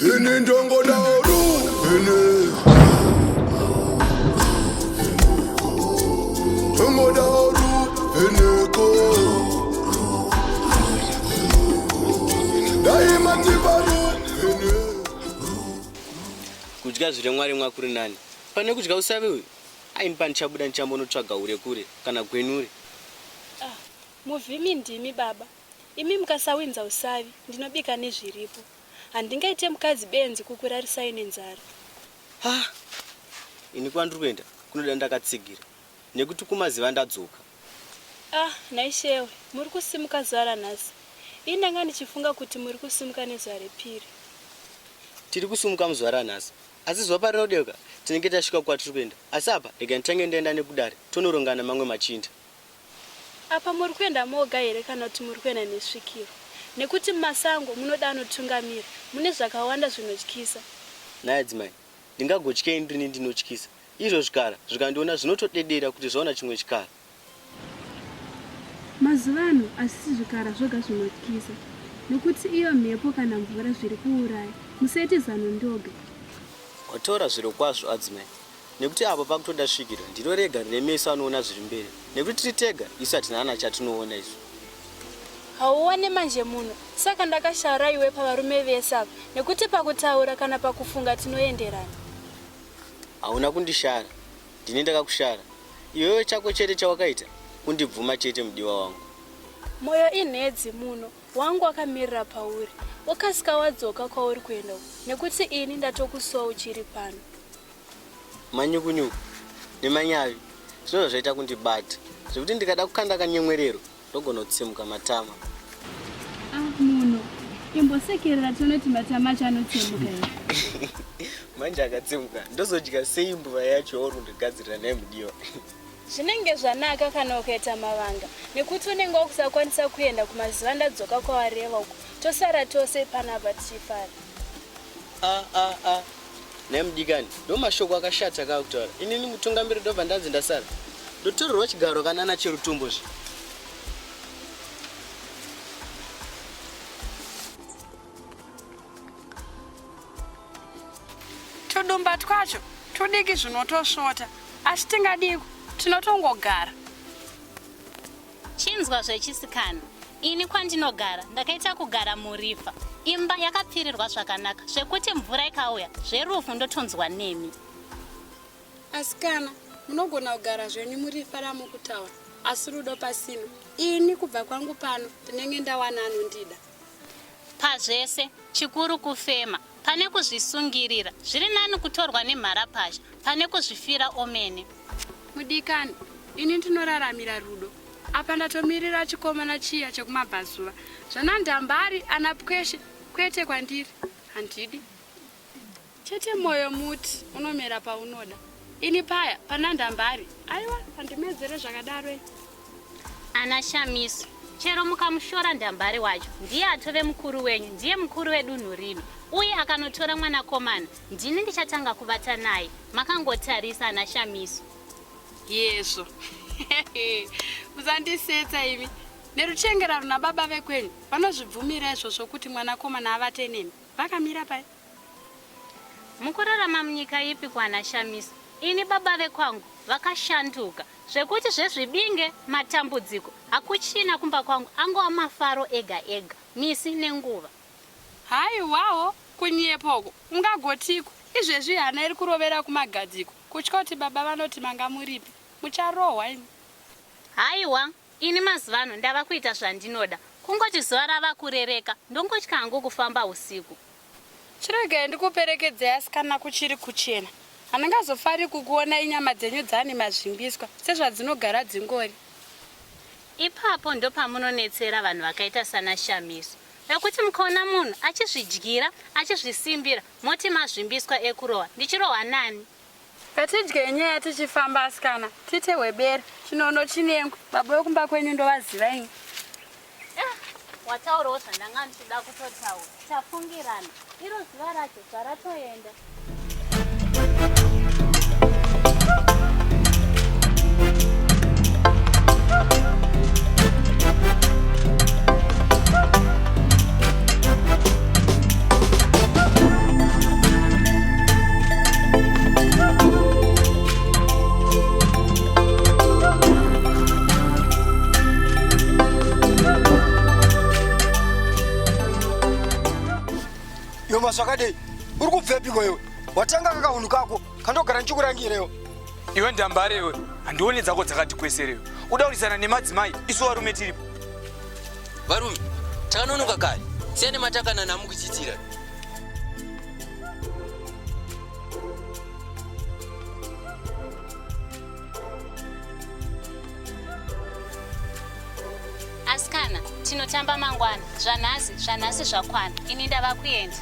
Ini ndongo daoru ini Ndongo daoru ini ko Daima ndibaru ini kudya zviri mwari mwakuri nani pane kudya usavi uyu aini pandichabuda ndichambonotsvaga hure kure kana gwenure Muvhimi ndimi baba imi mukasawinza usavi ndinobika nezviripo handingaite mukadzi benzi kukurarisai nenzara. Haa ini kwandiri kuenda kunoda ndakatsigira nekuti kumaziva ndadzoka. Ah nhai Shewe muri kusimuka zuva ranhasi ini ndanga ndichifunga kuti muri kusimuka nezuva repiri. Tiri kusimuka muzuva ranhasi asi zuva parinodeuka tinenge tasvika kwatiri kuenda asi apa rega nditange ndaenda nekudare tonorongana mamwe machinda. Apa muri kuenda moga here kana kuti muri kuenda nesvikiro? Nekuti mumasango munoda anotungamira, mune zvakawanda zvinotyisa. Nhai adzimai, ndingagotyei ndrini ndinotyisa? Izvo zvikara zvikandiona zvinotodedera kuti zvaona chimwe chikara. Mazuva ano hazvisi zvikara zvoga zvinotyisa nekuti iyo mhepo kana mvura zviri kuuraya. Musaite zano ndoga. Wataura zvirokwazvo adzimai, Nekuti apa pakutoda svikiro ndiro rega rine meso anoona zviri mberi nekuti tiri tega isu hatina kana chatinoona isu. Hauone manje munhu saka ndakashara iwe pavarume vese apa nekuti pakutaura kana pakufunga tinoenderana. Hauna kundishara ndini ndakakushara iwewe chako chete chawakaita kundibvuma chete mudiwa wangu. Moyo inhedzi muno wangu wakamirira pauri wokasika wadzoka kwauri kuenda uku nekuti ini ndatokusuwa uchiri pano. manyukunyuku nemanyavi zvinova zvaita kundibata zvekuti ndikada kukanda kanyemwerero ndogona kutsemuka matama ah, munhu imbosekerera tione kuti matama acho anotsemuka manje akatsemuka ndozodya sei mbuva yacho yauri kundigadzirira naye mudiwa zvinenge zvanaka kana ukaita mavanga nekuti unenge wakusakwanisa kuenda kumazuva ndadzoka kwawareva uko tosara tose panapa tichifara ah, ah, ah. Nhai mudikani, ndomashoko akashata akaa kutaura. Inini mutungamiri ndobva ndanzi ndasara. Ndotorerwa chigaro kanana cherutumbo zve. Tudumba twacho tudiki zvinotosvota. Asi tingadiko, tinotongogara. Chinzwa zvechisikana, ini kwandinogara ndakaita kugara murifa. Imba yakapfirirwa zvakanaka zvekuti mvura ikauya zverufu ndotonzwa nemi. Asikana, munogona kugara zvenyu murifa ramukutaura asi rudo pasina. Ini kubva kwangu pano ndinenge ndawana anondida. Pazvese, chikuru kufema. Pane kuzvisungirira, zviri nani kutorwa nemharapazha pane kuzvifira omene. Mudikani, ini ndinoraramira rudo. Apa ndatomirira chikomana chiya chekumabvazuva. Zvana Ndambari, ana Pweshe, kwete kwandiri. Handidi. Chete moyo muti unomera paunoda. Ini paya pana ndambari. Aiwa andimedzere zvakadaro ini. Ana Shamiso chero mukamushora ndambare wacho ndiye atove mukuru wenyu ndiye mukuru wedunhu rino uye akanotora mwanakomana ndini ndichatanga kuvata naye makangotarisa ana shamiso yezvo musandisetsa imi neruchengerano nababa vekwenyu vanozvibvumira izvozvo kuti mwanakomana avate nemi vakamira pai Mukurarama munyika ipi kwana Shamiso ini baba vekwangu vakashanduka zvekuti zvezvibinge matambudziko hakuchina kumba kwangu angova mafaro ega ega misi nenguva. Haiwawo kunyepa uko ungagotiiko izvezvi hana iri kurovera kumagadziko kutya kuti baba vanoti manga muripi mucharohwa imi. Haiwa Ini mazuvano ndava kuita zvandinoda kungoti zuva rava kurereka ndongotya hangu kufamba husiku. Chiregai ndikuperekedzei asikana kuchiri kuchena. Handingazofari kukuonai nyama dzenyu dzani mazvimbiswa sezvadzinogara dzingori. Ipapo ndopamunonetsera vanhu vakaita sana Shamiso vekuti mukaona munhu achizvidyira achizvisimbira moti mazvimbiswa ekurohwa ndichirohwa nani? Ngatidye nyaya tichifamba asikana, tiite hwebere. Chinono chinengu, baba wekumba kwenyu ndovaziva ini. Ah, wataurawo zvandanga ndichida kutotaura. Tafungirana. Iro zuva racho zvaratoenda. Yoma zvakadei uri kubvepiko iwe watanga kakahunhu kako kandogara ndichikurangirewo iwe ndambare iwe handione dzako dzakati kweserewe udauridzana nemadzimai isu varume tiripo Varume, takanonoka kare. Siyane matakana namukuchitira. Asikana, tinotamba mangwana. Zvanhasi, zvanhasi zvakwana. Ini ndava kuenda.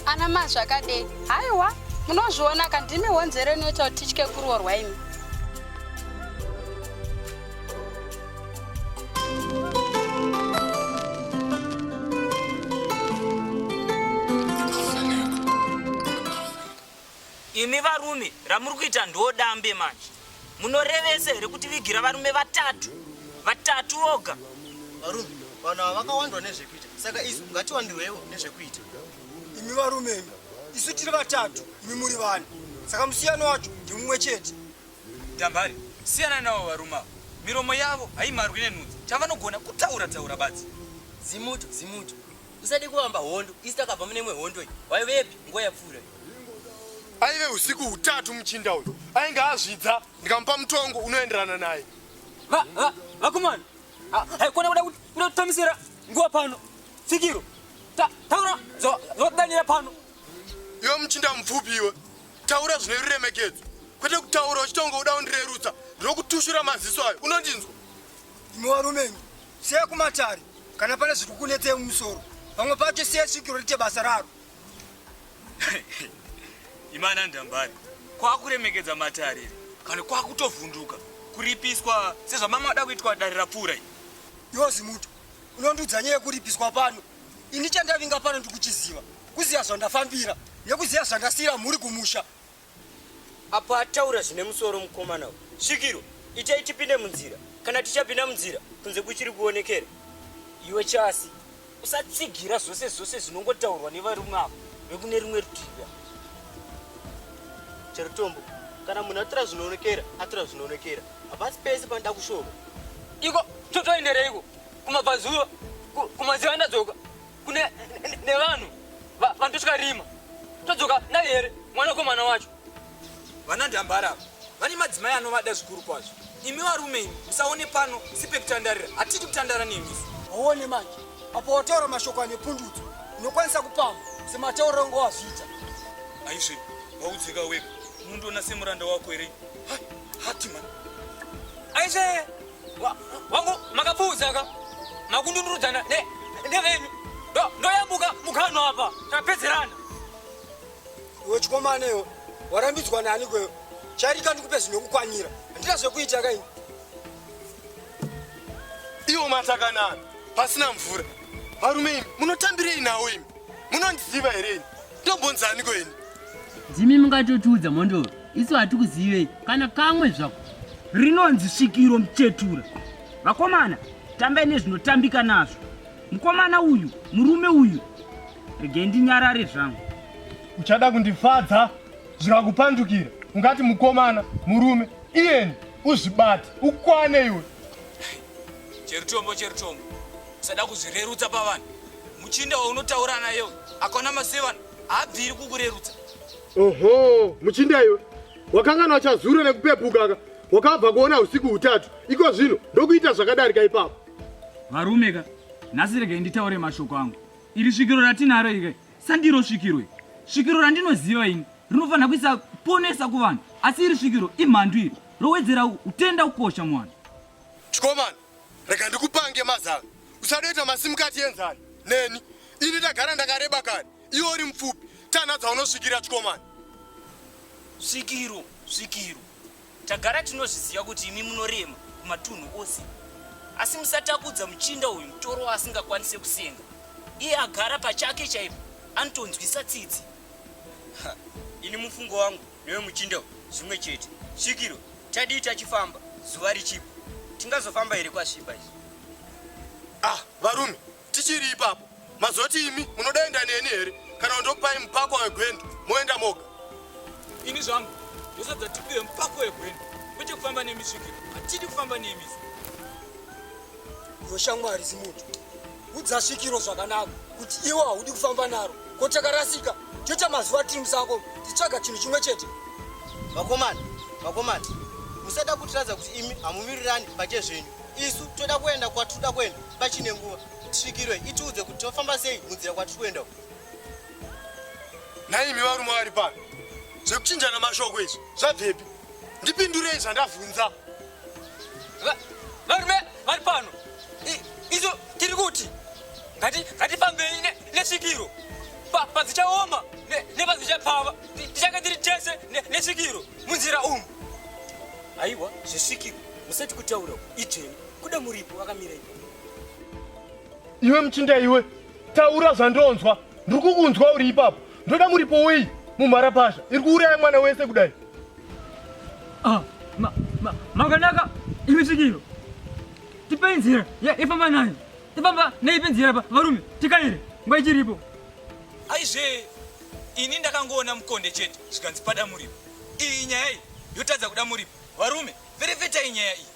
Ana ma zvakadei. Haiwa, munozviona ka ndimi honzero inoita kuti titye kuroorwa imi. imi varume ramuri kuita ndodambe manje munorevese here kuti vigira varume vatatu vatatu voga varume vanhu ava vakawandwa nezvekuita saka isu ngatiwandirwewo nezvekuita imi varume imi isu tiri vatatu imi muri vani saka musiyano wacho ndimumwe chete Dambari siyana navo varume avo miromo yavo haimarwi nenhunzi chavanogona kutaura taura badzi. Zimuto zimuto usade kuvamba hondo isi takabva mune imwe hondo iyi waivepi nguva yapfuura iyi. Aive usiku hutatu muchinda uyu ainge azvidza ndikamupa mutongo unoenderana naye. Va va vakomana ha- haikona kuda kuti kuda kutamisira nguva pano tsikiro Ta- taura zva- zvawadanira pano Iwe muchinda mupfupi iwe Taura zvine ruremekedzo kwete kutaura uchitonga uda undirerutsa ndinokutushura maziso ayo unondinzwa imi varume imi siya kumatare kana pane zviri kukunetsei mumusoro vamwe pacho siya svikiro rite basa raro imana ndambari kwakuremekedza matarire kana kwakutovhunduka kuripiswa sezvamamwe ada kuitwa dare rapfuura i yozi muto unondiudza nyaya yekuripiswa pano Ini chandavinga pano ndikuchiziva kuziva zvandafambira nekuziva zvandasiyira mhuri kumusha. Apo ataura zvine musoro mukomana uyu. Svikiro, itai tipinde munzira. Kana tichapinda munzira, kunze kuchiri kuonekera. Iwe Chasi, usatsigira zvose zvose zvinongotaurwa nevarume ava vekune rimwe rutivi. Cherutombo, kana munhu atora zvinoonekera, atora zvinoonekera. Hapasi pese panoda kushoma. Iko, totoendereiko? kumabvazuva kumaziva ndadzoka kune nevanhu vandosvika rima todzoka naye here mwana wekomana wacho vana ndambara vane madzimai anovada zvikuru kwazvo imi varume imi musaone pano sipekutandarira hatidi kutandara nemisu waone manje apo wataura mashoko ane pundutso unokwanisa kupamba sematauro angu wazviita aisve waudzika wega unondiona semuranda wako here hati mani aisve wangu makapfuudza ka makundundurudzana nevenyu ndoyambuka mukano apa tapedzerana iwe chikomanewo warambidzwa nani kweyo chairika ndikupe zvinokukwanira handina zvekuita kaini iwo matakanana pasina mvura varume imi munotambirei nawo imi munondiziva here ini Tobonza aniko ini? Dzimi mungatotiudza mondoro. Isu hatikuzivei kana kamwe zvako. Rinonzi svikiro muchetura. Vakomana, tambai nezvinotambika nazvo. Mukomana uyu, murume uyu. Regai ndinyarare zvangu. Uchada kundifadza zvikakupandukira. Ungati mukomana, murume, iyeni uzvibate, ukwane iwe. Cherutombo cherutombo. Usada kuzvirerutsa pavanhu. muchinda waunotaura naye uyu akaona masevana haabviri kukurerutsa oho muchinda iwe wakangana wachazura nekupepukaka wakabva kuona usiku hutatu iko zvino ndokuita zvakadarika ipapo varume ka nhasi regai nditaure mashoko angu iri svikiro ratinaro ika sandiro svikiro i svikiro randinoziva ini rinofanira kuisa ponesa kuvanhu asi iri svikiro imhandu iri rowedzera utenda kukosha muvanhu chikomana Rega ndikupange mazano. Usadoita masimukati enzani neni. Ini ndagara ndakareba kani. Iwe uri mupfupi. Tana dzaunosvikira chikomana. Svikiro, svikiro. Tagara tinozviziva kuti imi munorema kumatunhu ose. Asi musatapudza muchinda uyu mutoro waasingakwanise kusenga. Iye agara pachake chaipo anotonzwisa tsitsi. Ha, ini mufungo wangu newe muchinda uyu zvimwe chete svikiro tadii tachifamba zuva richipo tingazofamba here kwasviba izvi ah varume tichiri ipapo mazoti imi munodaenda neni here kana kundokupai mupako wegwendo moenda moga ini zvangu ndosabza tipiwe mupako wegwendo kwete kufamba nemisvikiro hatidi kufamba nemizi voshamwari zimuti Udza svikiro zvakanaka kuti iwe haudi kufamba naro. Ko takarasika toita mazuva tiri musango tichitsvaga chinhu chimwe chete. Vakomana, vakomana, musada kutiradza kuti imi hamumirirani pake zvenyu. Isu toda kuenda kwatinoda kuenda pachine nguva. Svikiro itiudze kuti tofamba sei munzira kwatiri kuenda uko. Nhaimi varume vari pano zvekuchinjana mashoko izvi zvabvepi ndipindurei zvandavhunza varume vari pano izo tiri kuti ngatifambei nesvikiro padzichaoma nepadzichapfava tichange tiri tese nesvikiro munzira umu aiwa zvesvikiro musati kutaura idzveni kuda muripo akamira ipo iwe muchinda iwe taura zvandonzwa ndiri kukunzwa uri ipapo ndoda muripo wei mumharapasha iri kuuraya mwana wese kudai ah, makanaka imi svikiro tipei nzira ya ifamba nayo tifamba neipi nzira pa varume tikaire nguva ichiripo aizve ini ndakangoona mukonde chete zvikanzi pada muripo iyi nyaya iyi yotadza kuda muripo varume verevetai nyaya iyi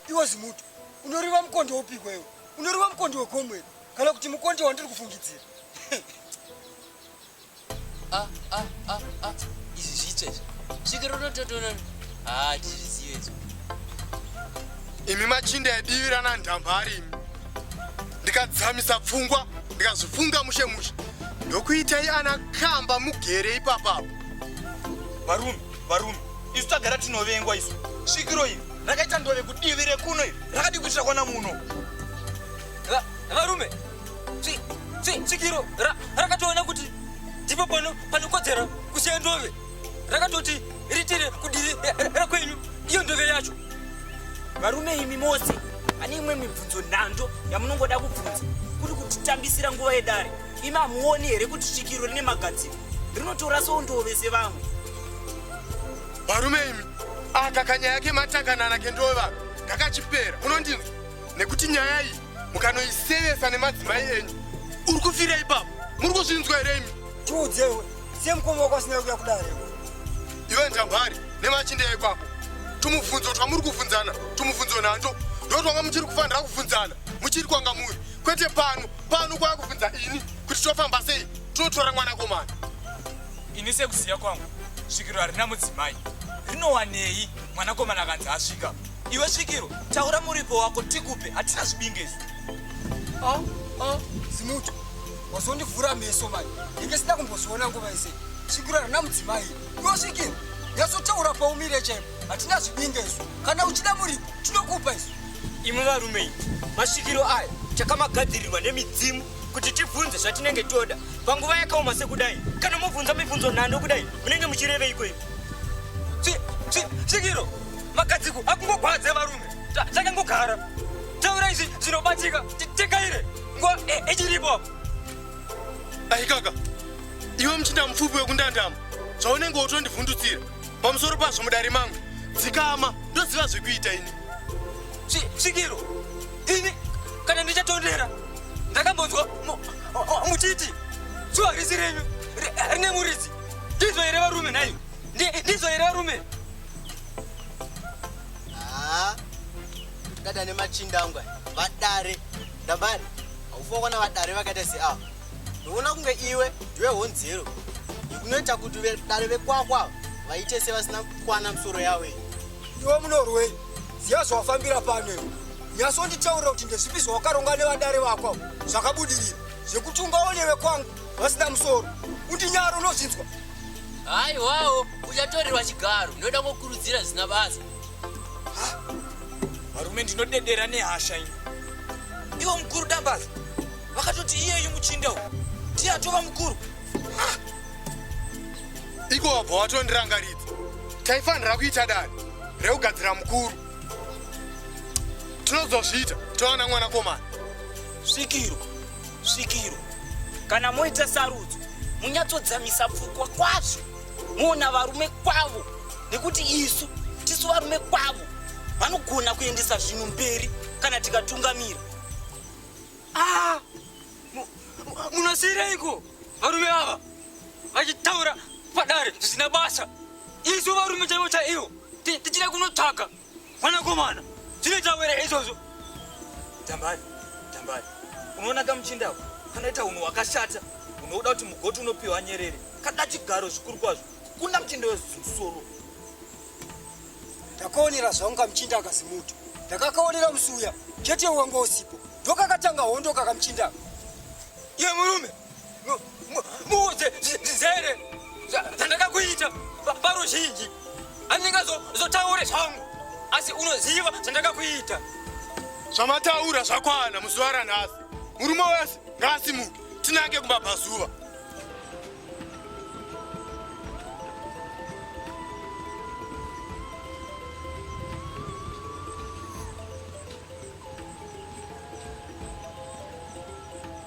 iwe zimuto unoriva mukonde wopiko iwe unoriva mukonde wegomweri kana kuti mukonde wandiri kufungidzira Ah, ah, ah, ah. Izvi zvitsva izvi. Svikiro unototoona. Ah, ndizvizive izvi. imi machinda yadiwira nandambari imi ndikadzamisa pfungwa ndikazvifunga mushe mushe ndokuitai ana kamba mugere ipapapo varume varume isu tagara tinovengwa isu svikiro iri rakaita ndove kudivi rekuno iri rakadii kuitira kwana muno Va- Varume, tsikiro rakatoona kuti ndipo pano panokodzera kusiya ndove rakatoti ritire kudiri eh, eh, rakwenyu iyo ndove yacho varume imi mose pane imwe mibvunzo nhando yamunongoda kubvunza kuri kutitambisira nguva yedare imi hamuoni here kuti svikiro rine magadziro rinotora sondove sevamwe varume imi aka kanyaya kematanganana kendova kakachipera unondinzwa nekuti nyaya iyi mukanoisevesa nemadzimai enyu uri kufira ipapo muri kuzvinzwa here imi tiudzewe siye mukoma wako asina kuya kudare iwe njambari nemachinda ipapo tumubvunzo twamuri kuvhunzana tumubvunzo nhanto ndo twanga muchiri kufanira kuvhunzana muchiri kwanga muri kwete pano pano kwaya kuvhunza ini kuti tofamba sei tinotora mwana komana ini sekuziva kwangu svikiro harina mudzimai rinowanei mwanakomana akanzi asvika Iwe svikiro, taura muripo wako tikupe, hatina zvibinge izvi. Ah, ah, Zimuti, wazondivhura meso mani, ndinge sina kumboziona nguva yese. Svikiro harina mudzimai, iwe svikiro, nyatsotaura paumire chaipo, hatina zvibinge izvi. Kana uchida muripo, tinokupa izvi. Imwe varume iyi, masvikiro aya chakamagadzirirwa nemidzimu kuti tibvunze zvatinenge toda panguva yakaoma sekudai. Kana mobvunza mibvunzo nhando kudai, munenge muchireveiko imi? Svikiro, makadziko akungogwadza varume takangogara taura izvi zvinobatika tekaire nguva ichiripo apo aikaka iwe muchinda mupfupi wekundandama zvaunenge wotondivhundutsira pamusoro pazvo mudare mangu dzikama ndoziva zvekuita ini svikiro ini kana ndichatondera ndakambonzwa muchiti zuva risi renyu rine muridzi ndizvo here varume nhai ndizvo here varume Ah, dada nemachinda angu aya, vadare ndambari haufa kuona vadare vakaita seava ndoona kunge iwe ndiwe honzero yekunoita kuti vedare vekwako ava vaite sevasina kukwana misoro yavo iyi iwe munorwei ziva zvawafambira pano iwe nyasonditaurira kuti ndezvipi zvawakaronga nevadare vako avo zvakabudirira zvekuti ungaone vekwangu vasina musoro kuti nyaro unozvinzwa haiwawo uchatorerwa chigaro ndinoda kukurudzira zvisina basa varume ndinodedera nehasha ino ivo mukuru dambaza vakatoti iyeyu muchinda u ndiye atova mukuru iko wabva watondirangaridza taifanira kuita dani rekugadzira mukuru tinozozviita towana mwanakomana svikirwa svikiro kana moita sarudzo munyatsodzamisa pfukwa kwazvo moona varume kwavo nekuti isu tisu varume kwavo vanogona kuendesa zvinhu mberi kana tikatungamira ah, munosiireiko varume ava vachitaura padare zvisina basa isu varume chaivo chaivo tichida kunotsvaga Mwanakomana, zvinoita were izvozvo? Tambari, Tambari, unoona kamuchinda ako kanoita hunhu hwakashata unoda kuti mugoti unopiwa nyerere kada chigaro zvikuru kwazvo kukunda muchinda wezusoro. Ndakaonera zvangu kamuchinda akazimuti ndakakaonera musi uya chete wanga usipo ndokakatanga hondo kakamuchinda iye murume muudze zere zvandakakuita paruzhinji andingazotaure zvangu asi unoziva zvandakakuita zvamataura zvakwana muzuva ranhasi murume wese ngaasimuke tinange kumabvazuva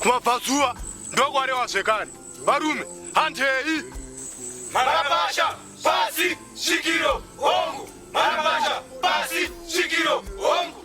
kumabvazuva ndokwarewa zvekare varume handei marabasha pasi svikiro hongu marabasha pasi svikiro hongu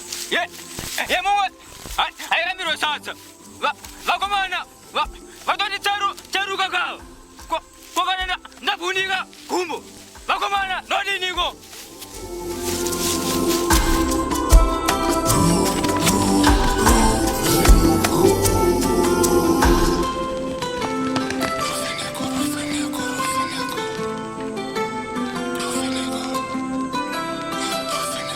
ye ye mumwe airamirwe sadza vakomana vatoti charu charuka kava kokana ndabhunika gumbo vakomana ndodiniko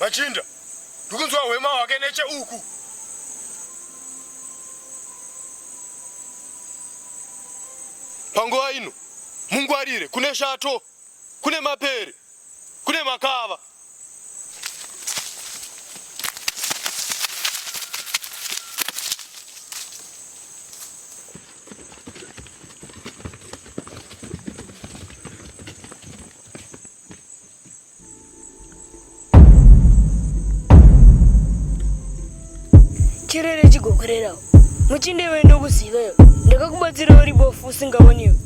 Machinda, ndikunzwa hwema hwake necheuku. Panguva ino mungwarire, kune shato, kune mapere, kune makava. chirere chigokorerawo muchinde iwe ndokuzivayo ndakakubatsira uri bofu usingaoniwe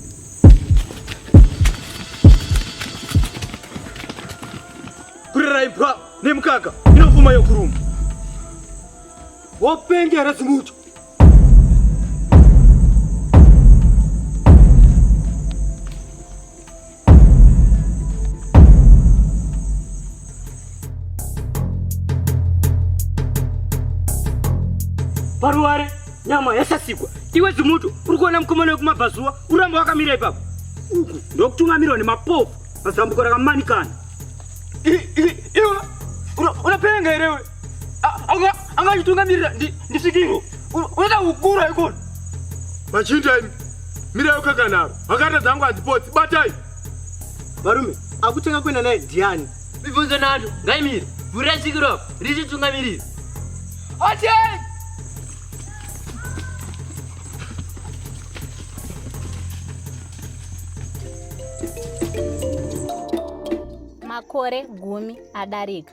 kurera imbwa nemukaka inofuma yokuruma wopenga here zimucho paruware nyama yasasikwa iwe zimuto uri kuona mukomana wekumabvazuva uramba wakamira ipapo uku ndokutungamirwa nemapofu pazambuko rakamanikana unopenga here angachitungamirira ndisikiro unoda kukura ikona machinja imi mirai ukakanaro akata dzangu hadzipotsi batai varume akutanga kuenda naye ndiani mibvunzo nato ngaimire vhurai sikiro apo richitungamirira atei makore gumi adarika